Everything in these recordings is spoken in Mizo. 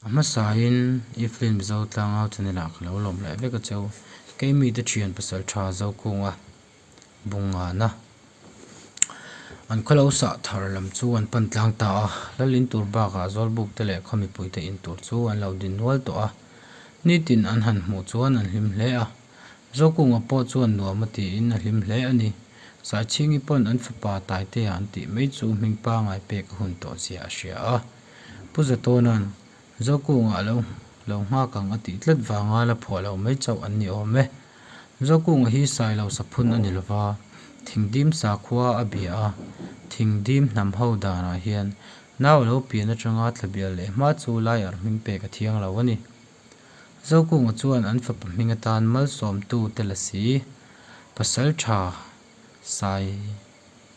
A hmasain i film zotlang-au channel ah ka lo lawm leh vek a cheu. Kei mite thian pasal tha zokunga bung nghahna an khaw lo sah thar lam chu an pan tlang ta a, lal in tur bakah zawlbuk te leh khaw mipui te in tur chu an lo din nual tawh a, nitin an han hmuh chuan an hlim hle a, zokunga pawh chuan nuam a tiin a hlim hle a ni. Saichhingi pawn an fapa Taiteah an tih mai chu hming pangai pek a hun tawh zia a hria a. Pu Zatawnaan, Zawkûnga a lo lo nghâk ang a tih tlat vanga la phuah loh mai chauh an ni awm e. Zawkûnga hi sai lo saphun a ni lova, Thingdim sakhua a bia a, Thingdim hnam ho dânah hian nau a lo pian aṭanga thla bial leh hma chu lai arh hming pêk a thiang lo a ni. Zawkûnga chuan an fapa hming atân malsawmtute la si, Pasalṭha sai,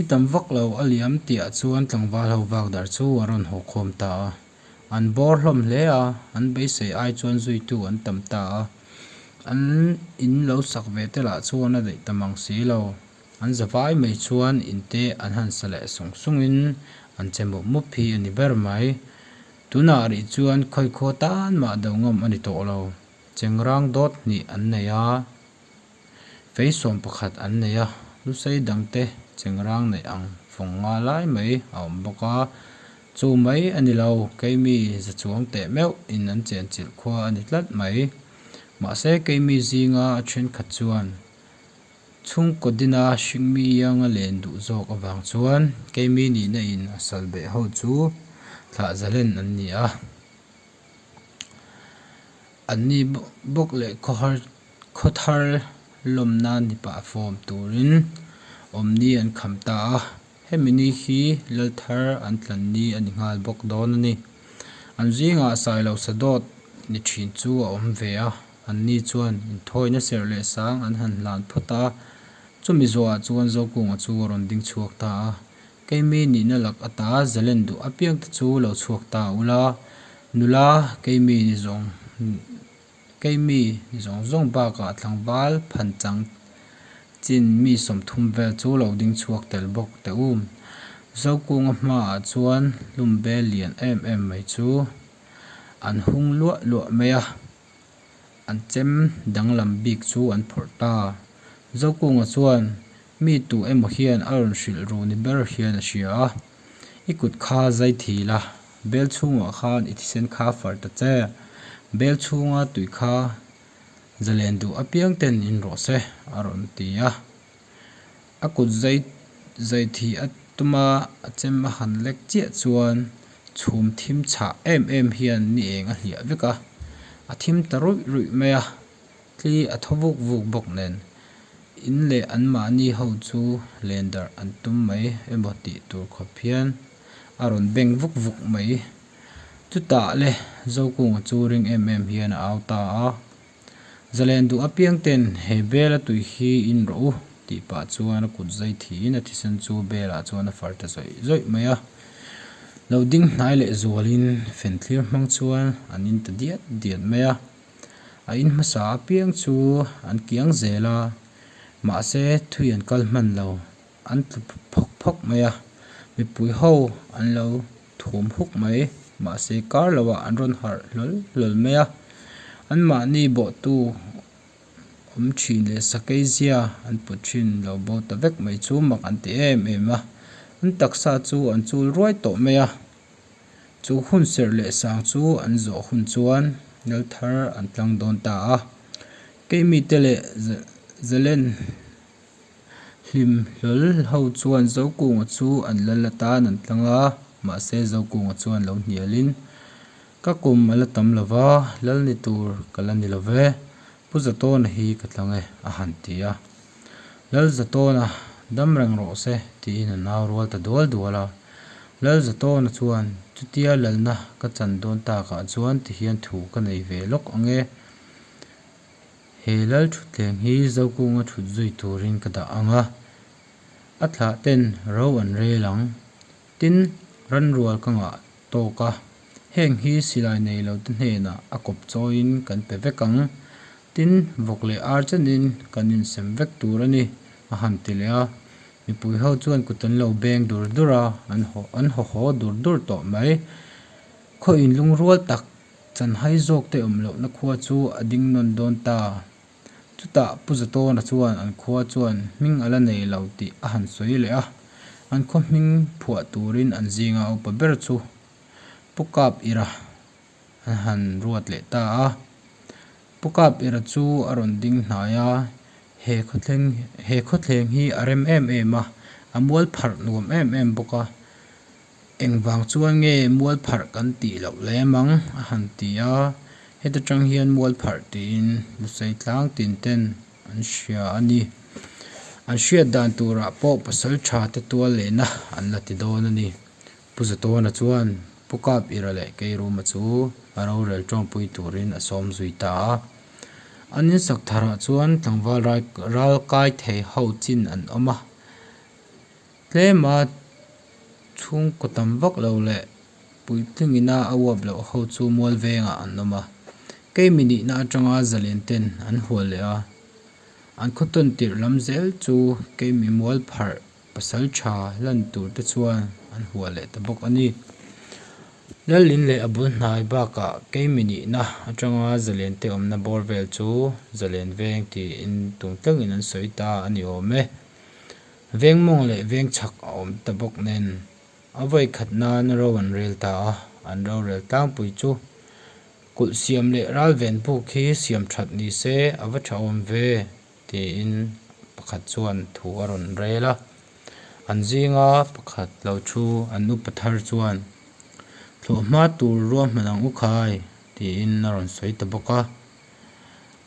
I tam vak lo a liam tihah chuan tlangval ho vak darh chu a rawn haw khawm ta a, an bawr hlawm hle a, an beisei ai chuan zuitu an tam ta a, an in lo sak ve te lah chuan a daih tam ang si lo, an za vai mai chuan in te an han sa leh sung sungin an che mup mup hi a ni ber mai, tunah rih chuan khawi khaw tan mah do ngawm a ni tawh lo, chengrang dawt hnih an nei a. Fei sawm pakhat an nei a, hlusei dangte chengrang neih ang fawng nga lai mai a awm bawk a. Chu mai a ni lo, keimi zachuang teh meuh in an chenchilh khua a ni tlat mai. Mahse, keimi zinga a thenkhat chuan chhungkaw dina hringmi anga len duh zawk avang chuan keimi nihna in a salbeh ho chu thlahzalen an ni a. an ni bawk leh khawthar lawm nan ni pah fawm turin awm ni an kham ta a hemi ni hi lal thar an tlan ni a ni nghal bawk dawn a ni an zingah sai lo sa dawt ni thin chu a awm ve a an ni chuan in thawi na serh leh sang an han hlan phawt a chumi zawhah chuan zokung a chu a rawn ding chhuak ta a. Keimei nihna lak ata zalen duh apiang te chu lo chhuak ta ula, nula Keimei ni zawng Keimei ni zawng zawng bakah tlangval phan chang chin mi sawmthum vel chu lo ding chhuak tel bawk teh u. Zokunga hmaah chuan hlum bel lian em em mai chu an hung luah luah mai a. an chem danglam bik chu an phawrh ta. Zokunga chuan mi tu emaw hian a rawn hrilh ru ni ber hian a hria a, I kut kha zai thil a, bel chhungah khan i thisen kha far ta che, bel chhunga tui kha zalen duh apiang ten in rawh se a rawn ti a. A kut zai zai thi a tum a, a chem a han lek chiah chuan chhum thim chhah em em hian ni eng a hliah vek a, a thim ta ruih ruih mai a, tli a thaw vuk vuk bawk nen in leh an mahni ho chu len darh an tum mai emaw tih tur khawp hian a rawn beng vuk vuk mai. Chutah le Zokung chu ring em em hian a au ta a, Zalen duh apiang ten he bel a tuih hi in rawh u tih pah chuan a kut zai thi in a thisen chu bel ah chuan a far ta zawih zawih mai a. Lo ding hnai leh zual in fenthlir hmang chuan an in ta diat diat mai a. A in hmasa apiang chu an kiang zel a mahse thui an kal hman lo. An tlu phawk phawk mai a, mipui ho an lo thum huk mai, mahse kar lo ah an rawn harh hlawl hlawl mai a. An mahni bawhtu awm thin leh sakei zia an put thin lo bo ta vek mai chu mak an ti em em a. An taksa chu an chul ruai tawh mai a, chu hun serh leh sang chu an zawh hun chuan lal thar an tlang dawn ta a. Kei mite leh Zalen. Hlim hlawl ho chuan Zokunga chu an lal atan an tlang a, mahse Zokunga chuan lo hnialin, Ka kum a la tam lo va, lal ni tur ka la ni lo ve, Pu Zatawna hi ka tlang e, a han ti a. Lal Zatawna, dam reng rawh se, tiin a nau rual ta dual dual a. Lal Zatawna chuan, Chutia lalna ka chan dawn takah chuan tihian thu ka nei ve lawk ang e. He lal thutthleng hi Zokunga thut zui turin ka dah ang a, a thlah ten ro an rel ang, tin, Ranrual ka ngah tawk a, heng hi silai nei lo te hnenah a kawp chawiin kan pe vek ang, tin, vawk leh ar chenin kan insem vek tur a ni, a han ti leh a, mipui ho chuan kut an lo beng dur dur a, an haw haw dur dur tawh mai, khaw in lungrual tak Chanhai zawkte awm lohna khua chu a ding nawn dawn ta. Chutah Pu Zatawna chuan an khua chuan hming ala nei lo tih a han sawi leh a, an khawhming phuah turin an zinga upa ber chu Pu Kap Ira an han ruat leh ta a. Pu Kap Ira chu a rawn ding hnai a, he khawthleng he khawthleng hi a rem em em a, a mual pharh nuam em em bawk a. Engvang chuan nge mualpharh kan tih loh le mang a han ti a, heta tang hian mualpharh tiin hlusei tlang tinten an hria a ni. An hriat dan turah pawh pasal tha te tual lehna an la ti dawn a ni. Pu Zatawna chuan Pu Kap Ira leh Keiruma chu a rorel tawngpui turin a sawm zui ta a. An insak tharah chuan tlangval ral kai thei ho chin an awm a. Tlema chhungkaw tam vak lo leh puitling ina a uap loh ho chu mual vengah an awm a, kei minihna atanga zalen ten an hual leh a, an khawtawn tirh lam zel chu kei mi mual pharh pasal tha hlan tur te chuan an hual leh ta bawk a ni. Lalin leh a bul hnai bakah kei minihna atanga zalen te awmna bawr vel chu zalen veng tiin tum tlangin an sawi ta a ni awm e. Veng mawng leh veng chhak a awm ta bawk nen, a vawi khat nan ro an rel ta a, an rorel tlangpui chu. Kulh siam leh ral ven puk hi siam that ni se a va tha awm ve, tiin pakhat chuan thu a rawn rel a. An zinga pakhat lo thu an upa thar chuan, Thlawhhma tur ruahman ang u khai, tiin a rawn sawi ta bawk a.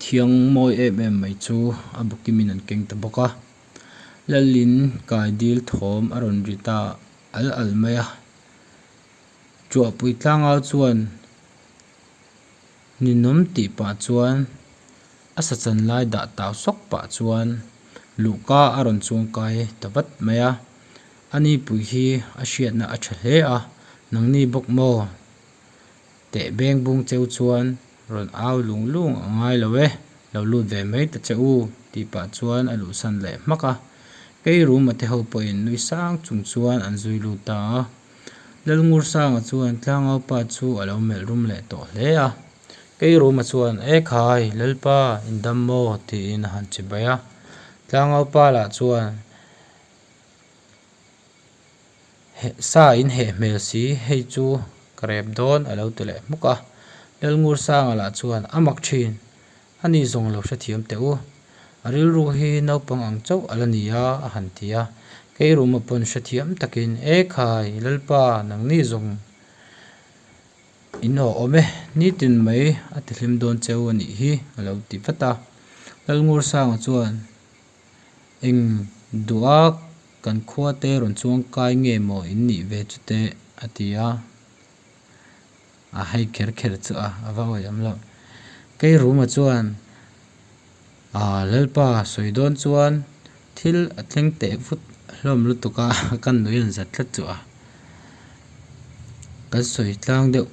Thiang mawi em em mai chu a bukimin an keng ta bawk a. Lalin kai dil thawm a rawn ri ta alh alh mai a. Chuahpui tlangau chuan ninawm tih pah chuan a sachan lai dah tau sawk pah chuan luhka a rawn chuang kai ta vat mai a. Ani pui hi a hriatna a tha hle a, nangni bawk maw? Teh beng bung cheu chuan rawn au lung lung a ngai lo e, lo lut ve mai ta che u tih pah chuan a luhsan leh hmak a. Kei ruma te ho pawhin nui sang chung chuan an zui lut ta a. Lalngursanga chuan Tlangau pa chu a lo melh rum leh tawh hle a. Kei ruma chuan E khai, Lalpa, in dam maw tiin a han chibai a. Tlangau pa lah chuan. heh sa in heh hmel si hei chu ka rep dawn a lo ti leh hmuk a Lalngur Sanga lah chuan a mak thin a ni zawng lo hrethiam teh u a rilru hi naupang ang chauh a la ni a a han ti a keiruma pawn hrethiam tak in e khai Lalpa nang ni zawng in aw awm e nitin mai a ti hlim dawn cheu a nih hi a lo ti vat a Lalngur Sanga chuan. Eng duh a, kan khua te rawn chuang kai nge maw in nih ve chute, a ti a. A hai kher kher chu a, a va awi awm lo. Kei Ruma chuan aaa Lalpa sawi dawn chuan thil a thleng teh vut hlawm lutuk a, kan nui an zat tlat chu a. Kan sawi tlang deuh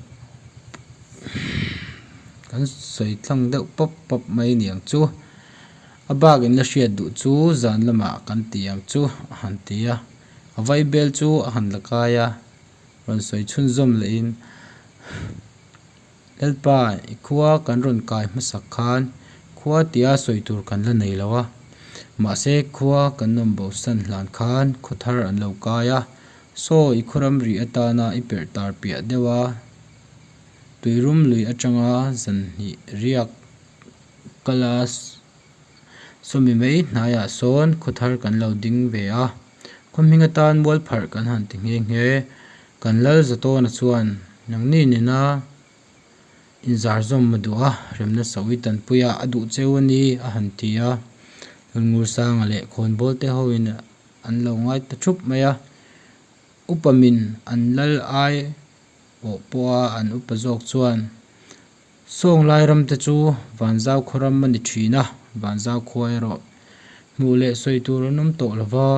kan sawi tlang deuh pawp pawp mai niang chu. A bakin la hriat duh chu zan lamah kan ti ang chu a han ti a, a vai bel chu a han la kai a, rawn sawi chhun zawm lehin, Lalpa, i khua kan rawn kai hmasak khan khua tia sawi tur kan la nei lo a, mahse khua kan nawm bo san hlan khan khaw thar an lo kai a, saw i khuram rih atana i perh tar piah deuh a, tui rum lui atanga zan hnih riak Class sawmi mai hnaiah sawn khawthar kan lo ding ve a, khawhming atan mualpharh kan han ti nghe nghe. Kan lal za tawna chuan Nangni nena inzar zawm a duh a, rem nasauh i tanpui a, a duh cheu a ni, a han ti a. Lungngursanga leh Khawnbawl te hoin an lo ngai ta thup mai a, upa min an lal ai pawh pawha an upa zawk chuan Sawng lai ram te chu Vanzau khaw ram a ni thin a, Vanzau khua erawh hmuh leh sawi tur an awm tawh lova,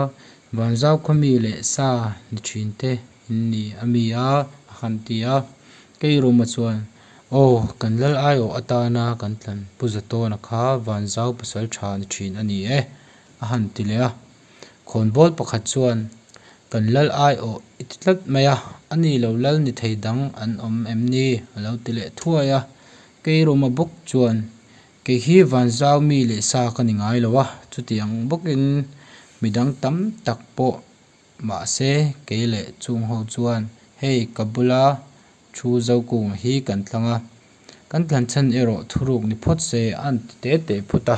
Vanzau khaw mi leh sa ni thin te in ni a mi a, a han ti a. Keiruma chuan, Aw, kan lal ai awh atana kan tlan pu za tawn a kha Vanzau pasal tha ni thin a ni e, a han ti leh a. Khawnbawl pakhat chuan, Kan lal ai aw i ti tlat mai a, a ni lo lal ni thei dang an awm em ni? a lo ti leh thuai a. Kei Roma bawk chuan, Kei hi van zau mi leh sa ka ni ngai lo a, chutiang bawkin midang tam tak pawh mahse kei leh chung ho chuan hei ka bula thu zokungah hi kan tlang a, kan tlanchhan erawh thuruk ni phawt se a an ti tete phut a.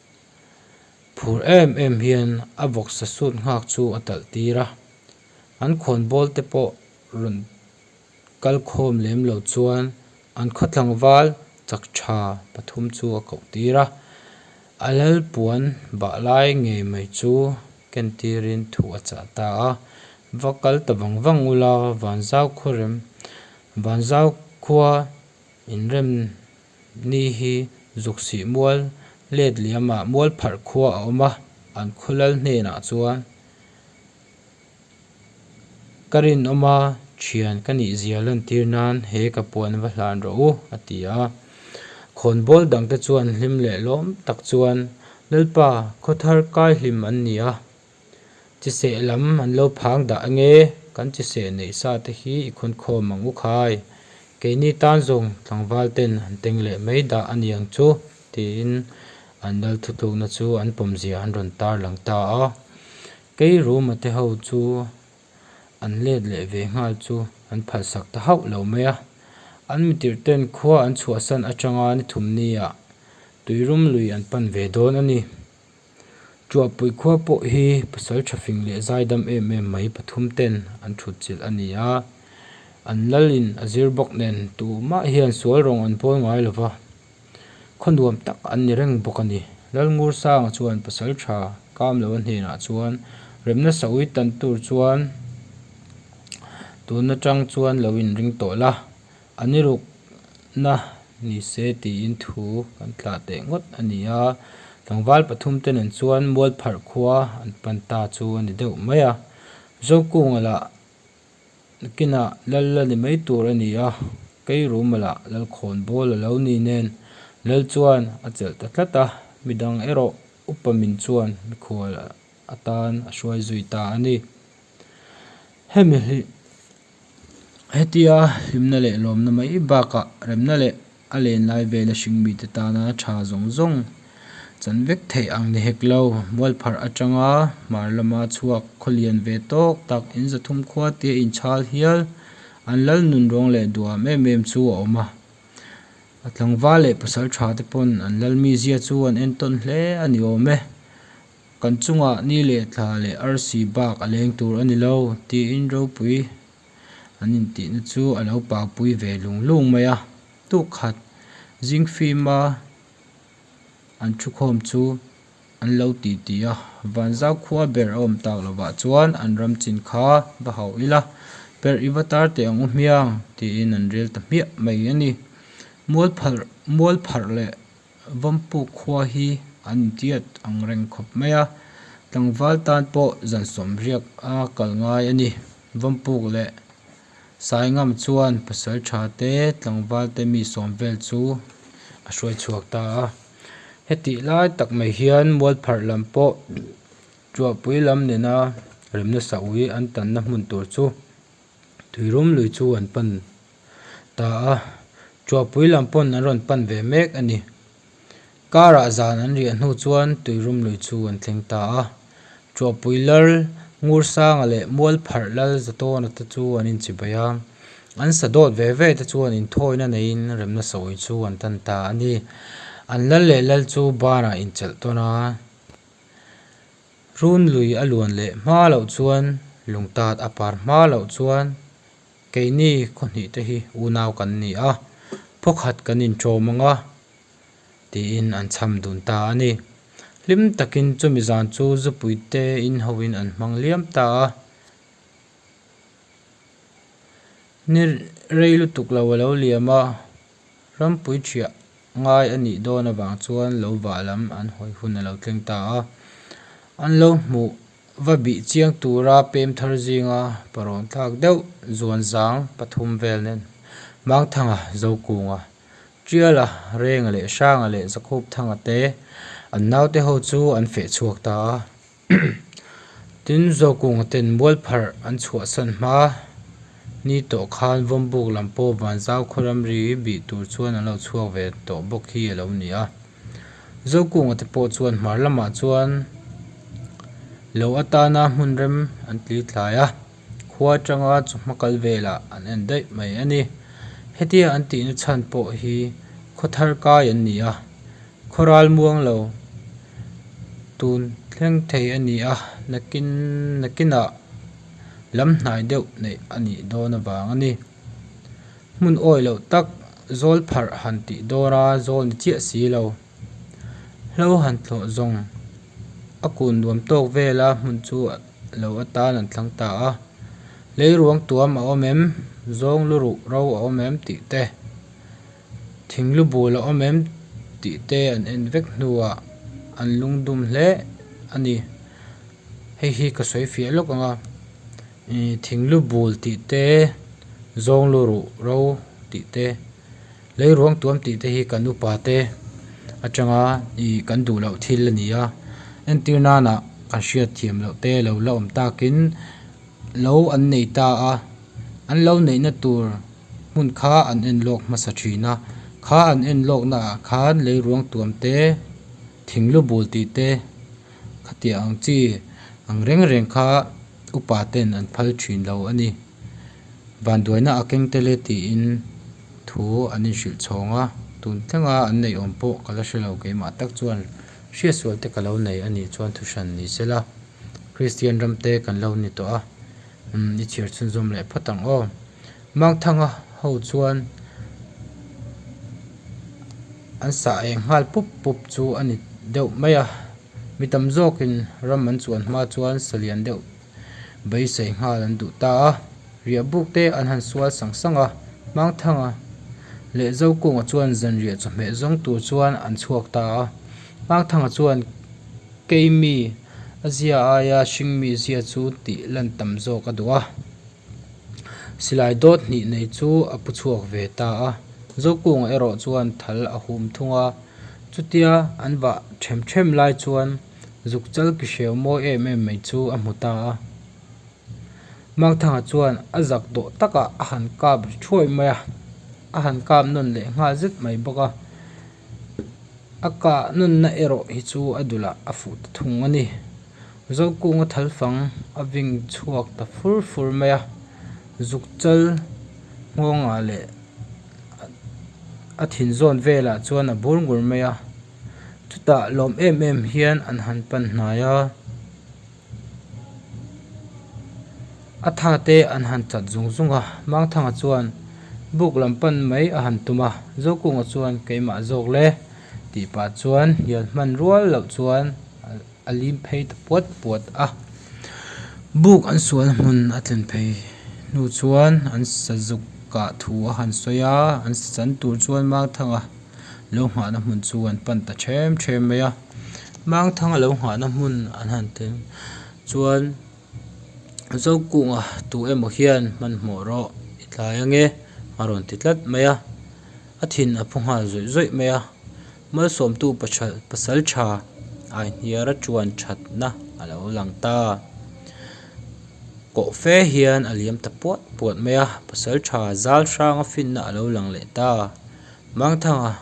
Phur em em hian a vawksa suit nghak chu a talh tir a, an khawnbawl te pawh rawn kal khawm lem lo chuan an khaw tlangval chak tha pathum chu a koh tir a, a lal puan bah lai ngei mai chu ken tirin thu a chah ta a, va kal ta vang vang ula vanzau khuarem vanzau khua inrem Ni hi zuk sih mual let liama mual pharh khua a awm a, an khaw lal hnenah chuan Ka rinawm a, thian ka nih zia lantir nan he ka puan va hlan rawh u, a ti a. Khawnbawl dangte chuan hlim leh lawm tak chuan Lalpa, khawthar kai hlim an ni a, Chi seh lam an lo phang dah enge, kan chi seh neih sa te hi i khawn khawm ang u khai. Keini tan zawng tlangval ten an teng leh mai dah a ni ang chu, tiin an lal thutlukna chu an pawmzia an rawn tar lang ta a. Kei Ruma te ho chu an let leh ve nghal chu an phalsak ta hauh lo mai a. An mitirh ten khua an chhuahsan atanga ni thum ni ah tuirum lui an pan ve dawn a ni. Chuahpui khua pawh hi pasal tha fing leh zaidam em em mai pathum ten an thutchilh a ni a, an lal in a zir bawk nen tuh mah hian sual rawng an pawl ngai lo va, khaw nuam tak an ni reng bawk a ni. Lalngursanga chuan pasal tha kam lo a hnenah chuan rem nasa ui tan tur chuan tun atang chuan lo in ring tawh la. A ni ruk na ni se tiin thu kan tlah teh ngawt a ni a, tlangval pathum te nen chuan mualpharh khua an pan ta chu a ni deuh mai a, Zokung la kin ah lal la ni mai tur a ni a, kei rumal ah lal khawn bawl a lo ni nen lal chuan a chelh ta tlat a, midang erawh upa min chuan mikhual atan a hruai zui ta a ni. Hemi hi. Hetia hlimna leh lawmna mai bakah remna leh a len lai vela hring mite tana tha zawng zawng chan vek theih ang ni hek lo. Mualpharh atanga hmar lama chhuak khawlian ve tawk tak in zathum khua tia inchhal hial an lal nun rawng leh duam em em chu a awm a. A tlangval leh pasal tha te pawn an lal mi zia chu an en tawn hle a ni awm e. Kan chungah ni leh tla leh arsi bak a leng tur a ni lo, tiin ropui an intihna chu a lo pakpui ve lung lung mai a. Tuk khat zing fima an thu khawm chu an lo ti ti a, Vanzau khua ber a awm tak lovah chuan an ram chin kha va hauh ila, perh i va tar teh ang u hmiang, tiin an rel ta hmiah mai a ni. Mual phalh mual pharh leh Vampuk khua hi an intiat ang reng khawp mai a, tlangval tan pawh zan sawm riak a kal ngai a ni. Vampuk leh Saingam chuan pasaltha te, tlangval te mi sawm vel chu a hruai chhuak ta a. Hetih lai tak mai hian Mualpharh lam pawh Tuahpui lam nena rem nasauh hi an tanna hmun tur chu. Tuirum lui chu an pan ta a, Chhuahpui lam pawn an rawn pan ve mek a ni. Karah zan an riah hnu chuan Tuirum lui chu an thleng ta a, Chhuahpui lal, Ngursanga leh Mualpharh lal za tawna te chu an inchibai a, an sa dawt ve ve te chuan inthawina neiin rem nasa awi chu an tan ta a ni. An lal leh lal chu banah inchelh tawn a. Hrun lui a luan leh hma loh chuan lungtat a par hma loh chuan keini khawhnih te hi unau kan ni a, phawkhat kan inṭawm ang a, tiin an cham dun ta a ni. Hlim takin chumi zan chu Zupuite inho in an hmang liam ta a, ni rei lutuk lo a lo liam a, Rampui thiah ngai a nih dawn avang chuan lo vah lam an hawi hun a lo tleng ta a, an lo hmuh va bih chiang tura pem thar zinga pawrawn tlak deuh zuan zang pathum vel nen Mangthanga, Zokunga, Tiala, Renga leh Hranga leh Zakhup Thanga te an naute ho chu an feh chhuak ta a. Tin, Zawkung ten bualpharh an chhuahsan hma ni tawh khan Vawmbuk lam pawh Vanzau khuaram ri bih tur chuan an lo chhuak ve tawh bawk hi a lo ni a. Zawkunga te pawh chuan hmar lamah chuan lo atana hmunrem an tli thlai a, khua tanga chu hma kal velah an en daih mai a ni. Hetia an tihna chhan pawh hi khawthar kai an ni a. Khawral muang lo tun thleng thei a ni a, nakin nakinah lam hnai deuh neih a nih dawn avang a ni. Hmun awi loh tak zawl pharh han tih dawn a, zawl ni chiah si lo. Hlo han thlawh zawng a kun nuam tawk vela hmun chu lo atan an thlang ta a, leiruang tuam a awm em, zawng lu ruh ro a awm em tih te. Thing lu bul a awm em? tih te an en vek hnuah an lung dum hle a ni. Hei hi ka sawi fiah lawk ang a, ih, thing lu bul tih te, zawng lu ruh ro tih te, lei ruang tuam tih te hi kan upa te atanga ih kan duh loh thil a ni a, entir nana kan hriatthiam loh te lo la awm takin lo an nei ta a, an lo neihna tur hmun kha an en lawk hmasa thin a, kha an en lawkna ah khan lei ruang tuam te, thing lu bul tih te khatiah ang chi ang reng reng kha upa ten an phal thin lo a ni. Vanduaina a keng tel e tiin thu an inhrilh chhawng a, tun thleng a an neih awm pawh ka la hre lo keimah tak chuan hriatsual te ka lo nei a nih chuan thu hran ni sela. Kristian ramte kan lo ni tawh a, umm i chhiar chhunzawm leh phawt ang aw. Mangthanga ho chuan an sa eng nghal pup pup chu a ni deuh mai a, mi tam zawkin ram an chuan hma chuan sa lian deuh beisei nghal an duh ta a, riah buk te an han sual sang sang a, Mangthanga leh Zokunga chuan zanriah chawhmeh zawng tur chuan an chhuak ta a. Ngakthanga chuan keimi a zia aia hring mi zia chu tih lan tam zawk a duh a, silai dawt hnih nei chu a pu chhuak ve ta a, Zokung erawh chuan thal a hum thung a, chutia an vah ṭhem ṭhem lai chuan zuk chalki hreu mawi em em mai chu a hmu ta a. Makthanga chuan a zak dawh takah a han kap ri thuai mai a, a han kap nawn leh nghal zet mai bawk a, a kah nawn na erawh hi chu a dulah a fuh ta thung a ni. Zokunga thal fang a veng chhuak ta fur fur mai a, zuk chal nghawngah leh a thin zawn velah chuan a bur ngur mai a, chutah lawm em em hian an han pan hnai a. A tha te an han chat zung zung a, Mangthanga chuan buk lam pan mai a han tum a, Zokunga chuan keimah zawk le tih pah chuan hian hman rual loh chuan a lim phei ta puat puat a. Buk an sual hmun a tlen phei hnu chuan an sazuk kah thu a han sawi a, an san tur chuan Mangthanga lo nghahna hmun chu an pan ta ṭhem ṭhem mai a. Mangthang a lo nghahna hmun an han tel chuan Zokkunga tu emaw hian hmanhmawh rawh, i tlai ange a rawn ti tlat mai a, a thin a phu nghal zawih zawih mai a, Malsawmtu pahra pasal tha ai hniara ṭuan ṭhatna a lo lang ta, kawh fe hian a liam ta puat puat mai a, pasal ṭha zal hranga finna a lo lang leh ta. Mangthanga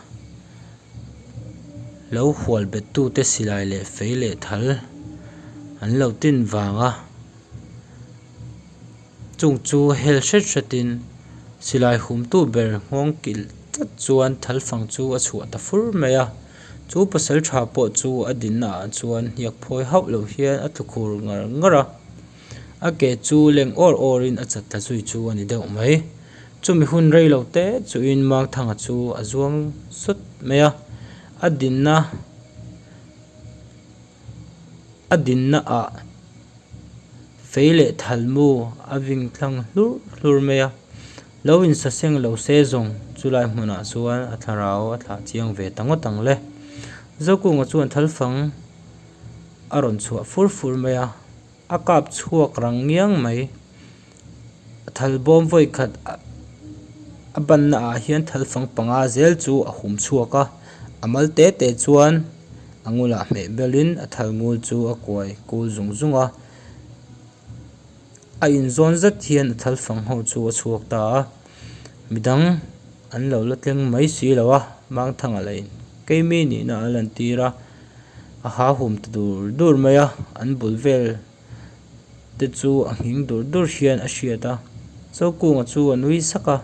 lo hual bettute silai leh fei leh thal an lo tin vang a, chung chu hel hret hretin silai humtu ber nghawng kilh tlat chuan thal fang chu a chhuah ta fur mai a, chu pasal tha pawh chu a dinna ah chuan hniak phawi hauh loh hian a tlu khur ngar ngar a. A ke chu leng awr awrin a chat ta zui chu a ni deuh mai. Chumi hun rei lo te chuhin Mangthanga chu a zuang sut mai a. A dinna a dinna ah fei leh thalmu a ving thlang hlur hlur mai a. Lo insa seng lo se zawng chu lai hmunah chuan a thlarau a thlah chiang ve ta ngawt ang le. Zokung a chuan thalfang. a rawn chhuah fur fur mai a a kap chhuak rang ngiang mai a thal bawm vawi khat a banna ah hian thal fang panga zel chu a hum chhuak a a mal te te chuan a ngul ah hmeh bel in a thal ngul chu a kuai kul zung zung a a in zawn zat hian a thal fang ho chu a chhuak ta a mi dang an lo la tleng mai si lo a mangthang ah la in keimi nihna an lan tir a. a hahum ta dur dur mai a an bul vel te chu a nghing dur dur hian a hriat a chaukunga chu a nui sak a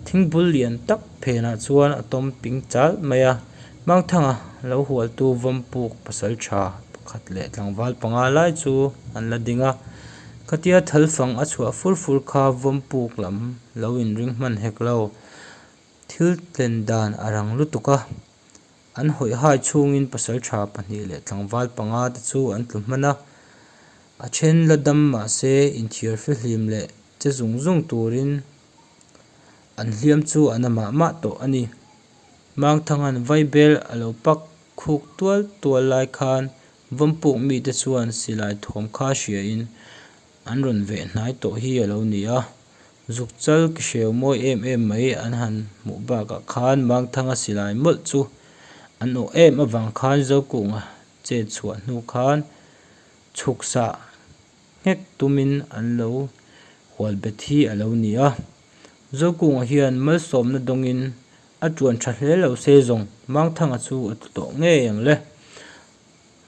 thingbul lian tak phen ah chuan a tawm ping chal mai a mangthanga lo hual tu vampuk pasal tha pakhat leh tlangval panga lai chu an la ding a khatia thal fang a chhuah fur fur kha vampuk lam lo in ring hman hek lo thil tlen dan a rang lutuk a. An hawihai chhungin pasaltha pahnih leh tlangval panga te chu an tlu hman a, a then la dam mahse inthiar hre hlim leh che zung zung turin an hliam chu a na mah mah tawh a ni. Mangthanga'n Vaibel a lo pak khuk tual tual lai khan vampuk mite chuan silai thawm kha hriain an rawn veh hnai tawh hi a lo ni a, Zukchal ki hreu mawi em em mai an han hmuh bakah khan Mangthanga silai mawlh chu an awh em avang khan Zokunga chen chhuah hnu khan chhuksah nghek tumin an lo hual bet hi a lo ni a. Zokunga hian malsawmna dawngin a tuan tha hle lo se zawng Mangthanga chu a tu tawh ngei ang le.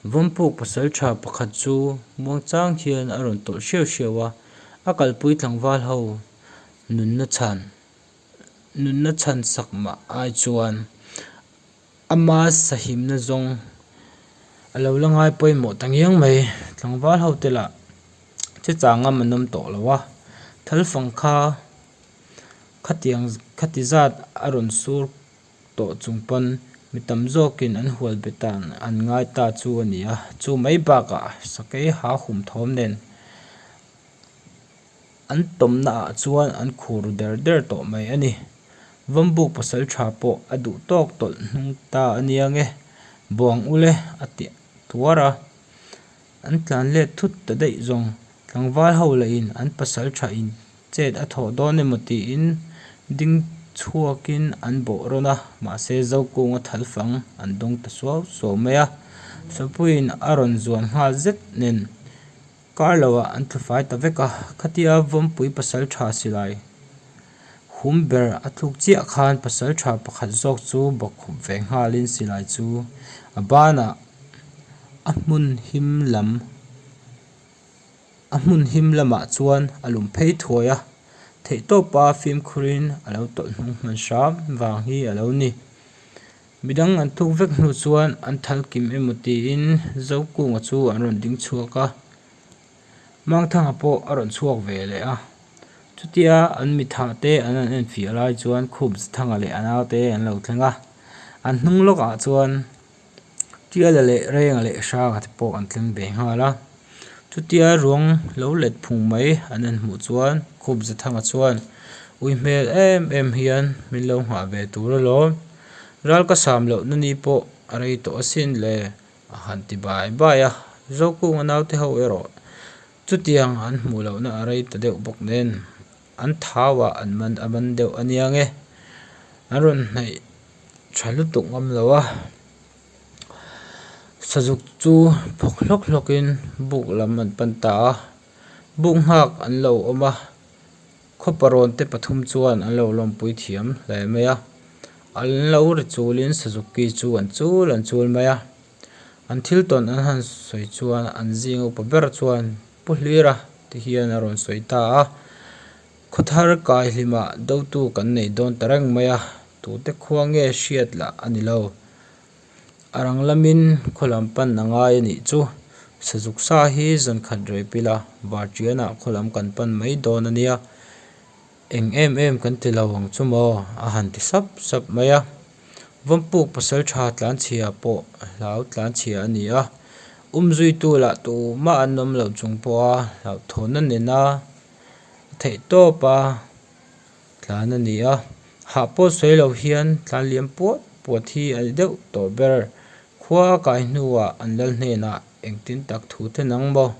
Vampuk pasal tha pakhat chu Muangchang hian a rawn tawlh hriau hriau a, a kalpui tlangval ho nunna chhan nunna chhan sak mah ai chuan a ma sahimna zawng a lo la ngai pawimawh ta ngiang mai. Tlangval ho te lah che changa man awm tawh lo a, thalfang kha khatiang khatizat a rawn sur. tawh chung pawn mi tam zawkin an hual be tan an ngai ta chu a ni a, chu mai bakah sakei hahum thawm nen an tawmnaah chuan an khu ru der der tawh mai a ni. Vawmbuk pasal tha pawh a duh tawk tawlh hnung ta a nia nge, buang u le a ti tuar a, an tlan let thut ta daih zawng tlangval ho lahin an pasal tha in Chet a thawh dawn emaw tiin ding chhuakin an bawh rawn a, mahse Zokunga thalfang an dawng ta suau suau mai a. Sapuiin a rawn zuam nghal zet nen kar lohah an tlufai ta vek a, khatia vawnpui pasal tha silai hum ber a thluk chiah khan pasal tha pakhat zawk chu bawk khup ve nghalin silai chu a banah a hmun him lam. A hmun him lamah chuan a lum phei thuai a, theihtawpa fimkhurin a lo tawlh hnung hman hram vang hi a lo ni. Midang an tuk vek hnu chuan an thal kim emaw tiin Zokkunga chu an rawn ding chhuak a, Mangthanga pawh a rawn chhuak ve leh a. Chutia an mitha te an rawn enfiah lai chuan Khumsthanga leh a naute an lo thleng a, an hnung lawkah chuan tiala leh renga leh hranga te pawh an tling ve nghal a chutia ruang lo let phung mai an han hmuh chuan khup za thanga chuan ui hmel em em hian min lo nghah ve tur alawm ral ka sam loh na ni pawh a rei tawh asin le a han ti bai bai a zokunga naute ho erawh chutiang an hmuh lohna a rei ta deuh bawk nen. An thau ah an man a man deuh ania nge? An rawn hnaih tha lutuk ngam lo a. Sazuk chu phawk hlawk hlawk in buk lam an pan ta a. Buk nghak an lo awm a, khawpa rawn te pathum chuan an lo lawmpui thiam hle mai a. An lo ri chul in Sazuki chu an chul an chul mai a. An thil tawn an han sawi chuan an zing upa ber chuan Pu Hlir a ti hian a rawn sawi ta a, khawthar kai hlimah dotu kan nei dawn ta reng mai a, tute khua nge hriat lah a ni lo, a rang lamin khaw lam pan a ngai a nih chu, sazuk sa hi zankhat rehpila var tianah khaw lam kan pan mai dawn a nia. Eng em em kan ti lo ang chu maw? a han ti sap sap mai a. Vampuk pasaltha tlanchhia pawh hlau tlanchhia a ni a, um zuitu lah tumah an awm loh chung pawha hlauhthawn a nen a, a theih tawp a tlan a ni a. Hah pawh sawi lo hian tlan liam puat puat hi a ni deuh tawh ber. Khua a kai hnuah an lal hnenah engtin tak thu ten ang maw?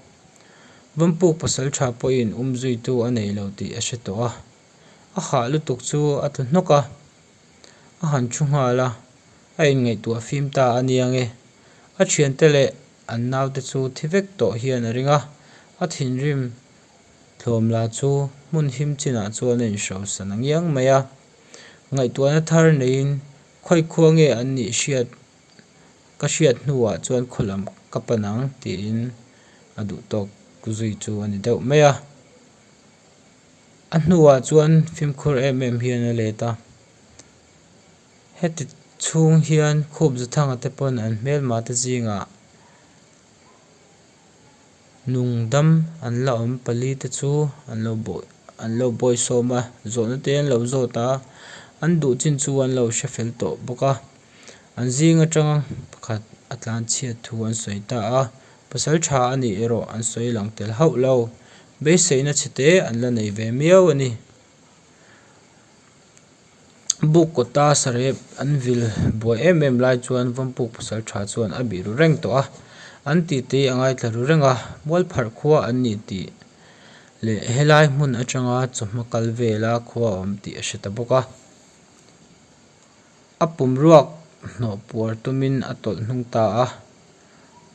Vampuk pasal tha pawhin um zuitu a nei lo tih a hre tawh a, a hah lutuk chu a tlu hnawk a, a han thu nghal a, a inngaihtuah fim ta a nia nge. A thiante leh an naute chu thi vek tawh hian a ring a, a thinrim thlawm la chu hmun him chinah chuan a inhrosan a ngiang mai a, ngaihtuahna thar neiin khawikhuange an nih hriat Ka hriat hnuah chuan khawlam ka pan ang tiin a duhtawk zui chu a ni deuh mai a. A hnuah chuan fimkhur em em hian a let a. Heti chhung hian khup za thanga te pawn an hmel mah te zingah. Nungdam an la awm pali te chu an lo bawi an lo bawi sawm a, zawhna te an lo zawt a, an duh chin chu an lo hre fel tawh bawk a, an zing atanga pakhat a tlan chhiat thu an sawi ta a, pasal tha a nih erawh an sawi lang tel hauh lo, beiseihna chhe te an la nei ve miau a ni. buk kawta sarep an vil buai em em lai chuan vampuk pasal tha chuan a bih ru reng tawh a an titei a ngaithla ru reng a mualpharh khua an nih tih leh helai hmun atanga chawhma kal vela khua awm tih a hre ta bawk a a pum ruak hnawh puar tumin a tawlh hnung ta a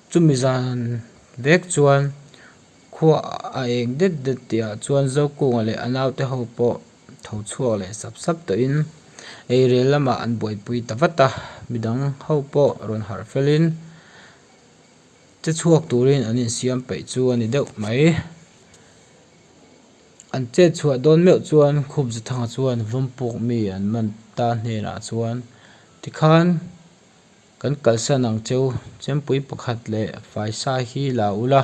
chumi zan vek chuan khua a eng det det tih ah chuan zokung leh a naute ho pawh-- Tho chhuak leh sap sap tawhin eirel lamah an buaipui ta vat a, midang ho pawh rawn harh felhin che chhuak turin an insiam peih chu a ni deuh mai. An chet chhuah dawn meuh chuan Khubzathanga chuan Vawmpuk mi an man ta hnenah chuan tikhan. Kan kalsan ang che u, Chempui pakhat leh Faisa hi la ula,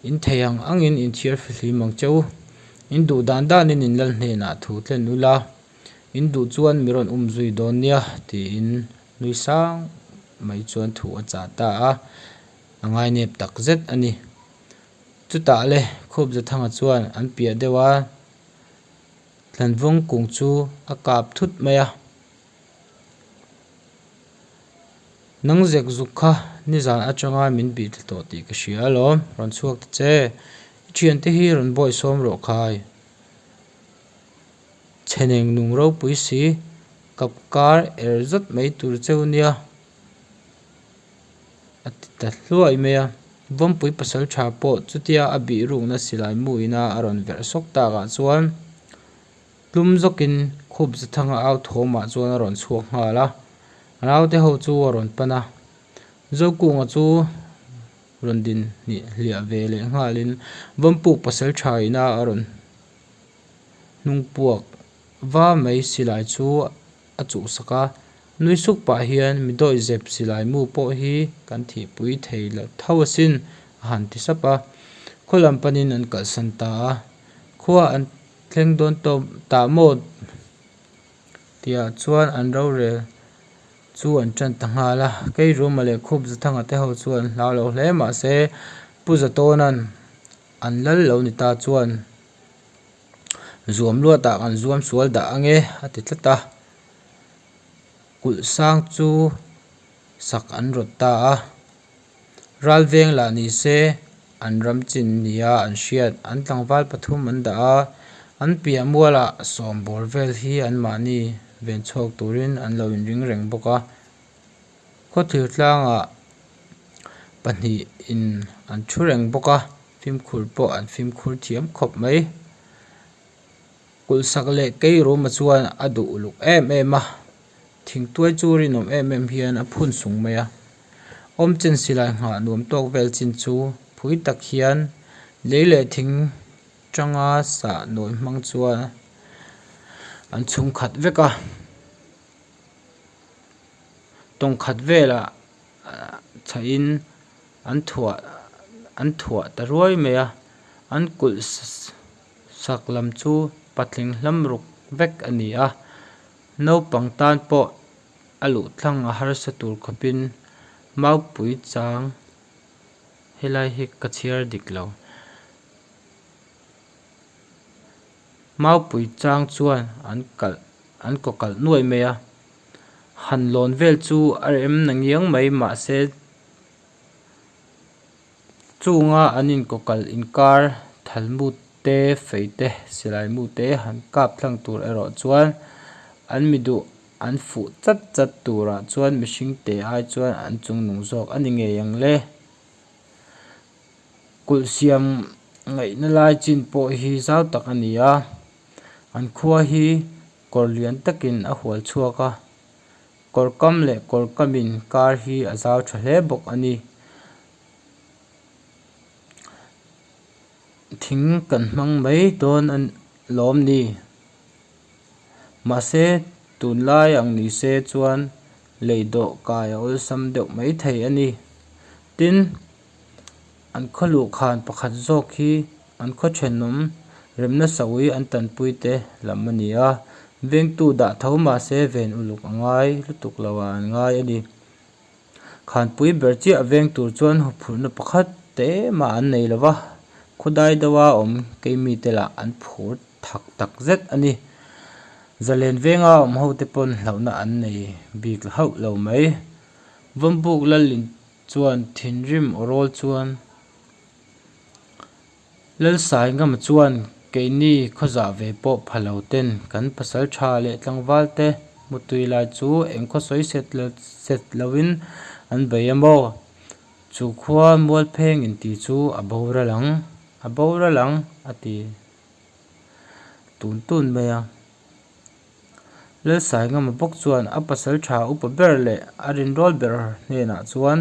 in thei ang angin in thiar fihlim ang che u, in duh dan danin in lal hnenah thu tlen ula, in duh chuan mi rawn um zui dawn nia tiin nui sang mai chuan thu a chah ta a, a ngainep tak zet a ni. Chutah le Khawpzathanga chuan an piah deuh a, Tlanvawng kung chu a kap thut mai a. Nang zek zuk kha nizan atanga min bih thla tawh tih ka hria lawm, rawn chhuak ta che. I thiante hi rawn bawi sawm rawh khai. Chheneng nung ropui si, kap kar er zat mai tur cheu nia a ti ta hluai mai a. Vampui pasal tha pawh chutia a bihrukna silai muina a rawn verh sawk takah chuan. Tlum zawkin khup Zathanga au thawmah chuan a rawn chhuak nghal a, a naute ho chu a rawn pan a. Zokkunga chu rawn din hnih hliah ve leh nghalin vampuk pasal tha ina a rawn hnung puak va mai silai chu a chuhsak a. Nui suk pah hian mi dawih zep silai mu pawh hi kan thihpui thei loh tho asin a han ti sap a. Khualam panin an kalhsan ta a, khua an Thleng dawn tawp ta mawt tihah chuan an rorel chu an tan ta nghal a, kei Ruma leh Khup Zathanga te ho chu an hlau lo hle mah se Pu Zatawnnan an lal lo ni ta chuan zuam luat ah kan zuam sual dah ange a ti tlat a, Kulh sang chu sak an rawt ta a. Ralveng lah ni se, an ram chin nia an hriat. An tlangval pathum an dah a, an piah muala sawm bawr vel hi an mahni ven chhawk turin an lo inring reng bawk a. Khawthlir tlanga pahnih in an thu reng bawk a, fimkhur pawh an fimkhur thiam khawp mai. Kulhsak leh keiruma chuan a duh uluk em em a, thingtuai chu rinawm em em hian a phun sung mai a. Awmchen silai nghah nuam tawk vel chin chu phui tak hian lei leh thing tanga sah nawi hmang chuan an chhung khat vek a. Tawng khat velah chhahin an thuah an thuah ta ruai mai a, an kulh. Sak lam chu patling hlam ruk vek a ni a, naupang tan pawh a luhthlang a harsa tur khawpin Maupui chang helai hi ka chhiar dik lo. Maupui chang chuan an kalh an kaw kalh nuai mai a, han lawn vel chu a rem na ngiang mai mahse, Chunga an inkawkal inkar thalmut te, fei te, silai mu te han kap thlang tur erawh chuan an mi duh an fuh chat chat turah chuan mihring te ai chuan an chung nung zawk a ni ngei ang le. Kulh siam ngaihna lai chin pawh hi zau tak a ni a, an khua hi kawr lian takin a hual chhuak a, Kawr kam leh kawr kam in kar hi a zau tha hle bawk a ni. Thing kan hmang mai dawn a lawm ni. Mahse tun lai ang ni se chuan lei dawh kai a awlsam deuh mai thei a ni. Tin. an khaw luh khan pakhat zawk hi an khaw thenawm rem nasa ui an tanpui te lam a ni a vengtu dah tho mahse ven uluk a ngai lutuk lo ah an ngai a ni khanpui ber chiah veng tur chuan huphurhna pakhat te mah an nei lova khawdai deuh a awm keimi te lah an phur thak tak zet a ni zalen venga awm ho te pawn hlauhna an nei bik hauh lo mai vawnbuk lal in-- chuan thinrim rawl chuan Lalsaingama chuan keini khawzah ve pawh phalo ten kan pasal tha leh tlangval te hmutui lai chu eng khawsawi set loin an bei a maw? Chu khua mualpheng in tih chu a boral ang a boral ang a ti tun tun mai a. Lalsaingama bawk chuan a pasal tha upa ber leh a rinrawl ber hnenah chuan,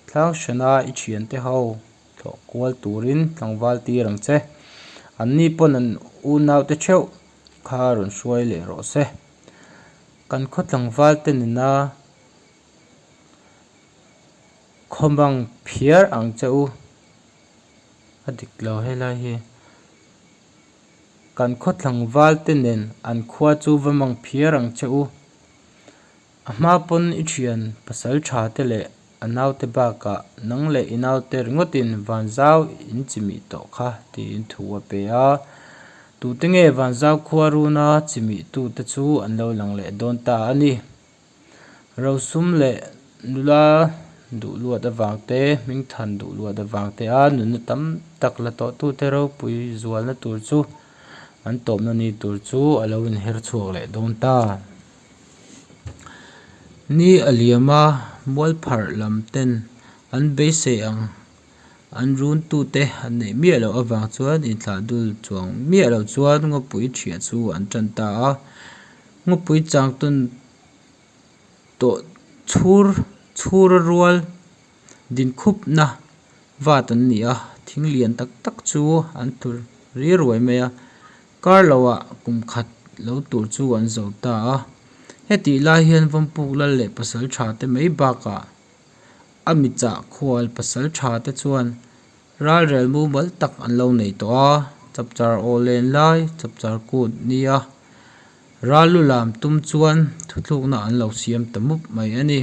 Tlang hrena i thiante ho thawh kual turin tlangval tir ang che. Anni pawn an unaute theuh kha rawn hruai leh rawh se. Kan khawtlangvalte nena khawmang phiar ang che u. A dik lo helai hi. Kan khaw tlangvalte nen an khua chu va mang phiar ang che u. A hma pawn i thian pasal tha te leh a naute bakah nang leh i naute ringawtin van zau in chimih tawh kha tiin thu a pe a. Tute nge van zau khuaruna chimih tute chu an lo lang leh dawn ta a ni. Rosum leh nula duhluat avang te, hmingthan duhluat avang te a nunna tam tak la tawh tu te ropui zualna tur chu an tawpna ni tur chu a lo inher chhuak leh dawn ta. Ni a liam a, mualpharh lam ten an beisei ang. An runtute an neih miah loh avang chuan inthlah dul chuang miah loh chuan Ngawpui ṭhiah chu an ṭan ta a. Ngawpui changtawn tawh chhur chhura rual din khupna vat an ni a, thing lian tak tak chu an tur riruai mai a, kar lohah kum khat lo tur chu an zawh ta a. Hetihlai hian vampuk lal leh pasalṭhate mai bakah A michah khual pasal tha te chuan ralrel mumal tak an lo nei tawh a, chapchar aw len lai, chapchar kut ni a. Ral lu lam tum chuan thuthlukna an lo siam ta mup mai a ni.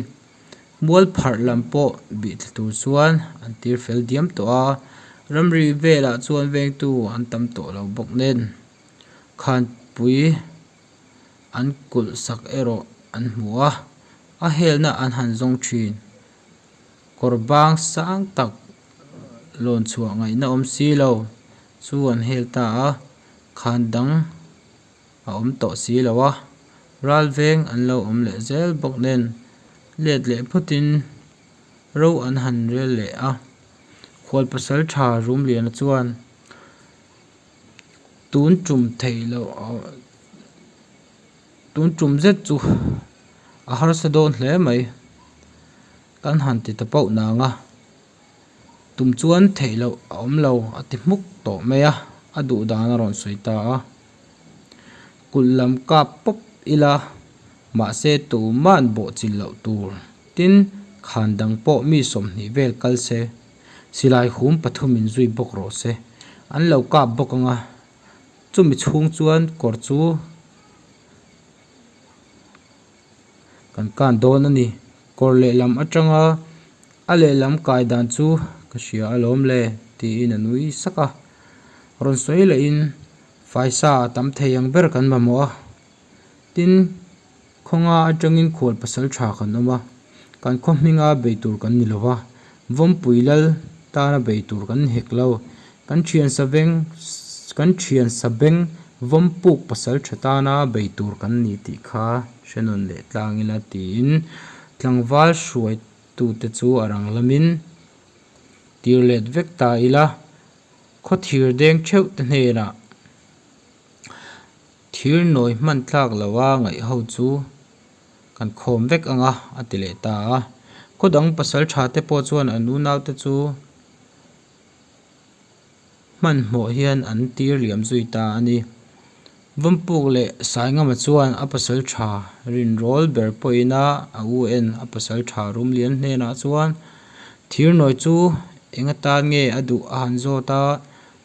Mual pharh lam pawh bih thla tur chuan an tir fel diam tawh a, ramri velah chuan vengtu an tam tawh lo bawk nen khanpui. an kulh sak erawh an hmu a, a helna an han zawng thin. Kawr bang sang tak lawn chhuah ngaihna awm si lo chu an hel ta a, khan dang a awm tawh si lo a, ral veng an lo awm leh zel bawk nen let leh phutin ro an han rel leh a. Khualpasal tha rum liana chuan Tun tum thei lo tun tum zet chu a harsa dawn hle mai kan han ti ta poh nang a tum chuan thei loh a awm lo a ti hmuk tawh mai a a duh dan a rawn sawi ta a kul lam kap pawp ila mahse tuman bawhchilh loh tur tin khan dang pawh mi sawmhnih vel kal se. Silai hum pathum in zui bawk rawh se, an lo kap bawk ang a, chumi chhung chuan kawr chu kan kan dawn a ni, kawr lehlam atanga a lehlam kai dan chu ka hria alawm le tiin a nui sak a, rawn sawi loh in faisa a tam thei ang ber kan mamawh a, tin. Khawnga atangin khual pasal tha kan awm a, kan khawhminga bei tur kan ni lo a, vawmpui lal tana bei tur kan hek lo. Kan thiansa veng, kan thiansa beng vawmpuk pasal tha tana bei tur kan ni tih kha hrenawn leh tlang ila tiin tlangval hruaitute chu a rang lamin tir let vek ta ila khawthir deng theuhte hnenah Thir nawi hman tlak lo a ngaih ho chu kan khawm vek ang a, a ti leh ta a. Khaw dang pasal tha te pawh chuan an u nau te chu hmanhmawh hian an tir liam zui ta a ni. Vampuk leh Saingama chuan a pasal tha rinrawl ber pawhin a, a u en a pasal tha rum lian hnenah chuan thir nawi chu eng atan nge a duh a han zawt a,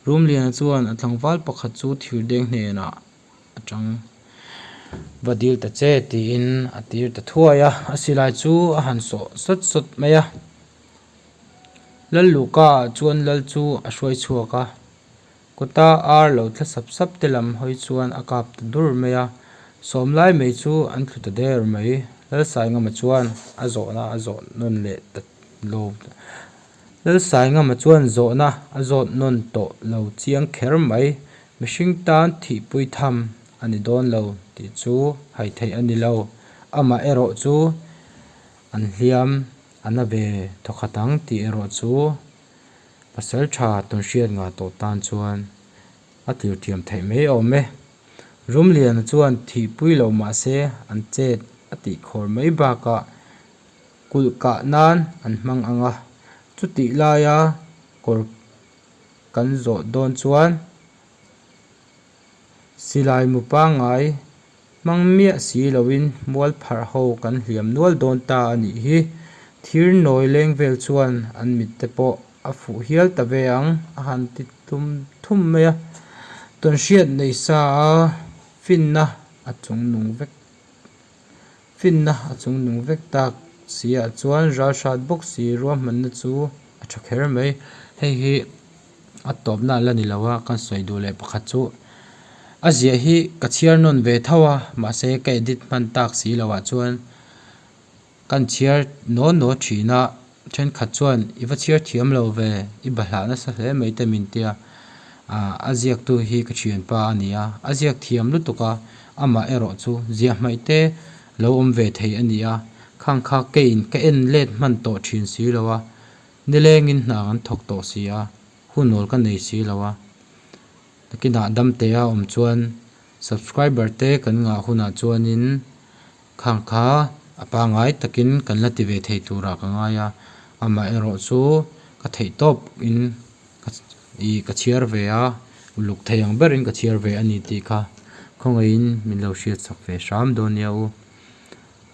Rumliana chuan a tlangval pakhat chu Thirdeng hnenah a chang va dil ta che tiin a tir ta thuai a, a silai chu a han sawh sawt sawt mai a. Lalluka ah chuan Lal chu a hruai chhuak a, kawta ar lo thla sap sap te lam hawi chuan a kap ta dur mai a, Sawmlai mei chu an thlu ta der mai. Lalsaingama chuan a zawhna a zawh nawn leh ta lo. Lalsaingama chuan zawhna a zawt nawn tawh lo chiang kher mai, mihring tan thihpui tham a ni dawn lo tih chu hai theih a ni lo. Amah erawh chu an hliam a na ve thaw khat ang tih erawh chu Pasalṭha Tunhriatnga tawh tan chuan a tirthiam theih mai a awm e. Rumliana chuan thihpui lo mah se an chet a tih khawr mai bakah Kulh kah nan an hmang ang a, chutih laia kawr kan zawh dawn chuan silai mu pangai hmang miah si loin mual pharh ho kan hliam nual dawn ta a nih hi. Thir nawi leng vel chuan an mitte pawh a fuh hial ta ve ang, a han ti tum thum mai a, tawnhriat nei sa a finna a chung nung vek. Finna a chung nung vek tak siah chuan ralhrat bawk si ruahmanna chu a tha kher mai. Hei hi a tawpna la ni lo a, kan sawi duh leh pakhat chu a ziah hi ka chhiar nawn ve tho a, mahse ka edit hman tak si lo ah chuan kan chhiar naw naw thin a. Thenkhat chuan, I va chhiar thiam lo ve, i ba hlah nasa hle mai ta min tia, ah, a ziaktu hi ka thianpa a nia, a ziak thiam lutuk a, amah erawh chu ziah hmaih te lo awm ve thei a nia, khang kha keiin ka en let hman tawh thin si lo a, nilengin hnang an thawk tawh si a, hu nawl ka nei si lo a, takin ah damtea awm chuan subscriber te kan ngah hunah chuanin, Khang kha a pangai takin kan la ti ve thei turah ka ngai a, amaherawh chu ka theih tawp in ka ih ka chhiar ve a, uluk thei ang berin ka chhiar ve a ni tih kha khawngaihin min lo hriatchhak ve hram dawn nia u.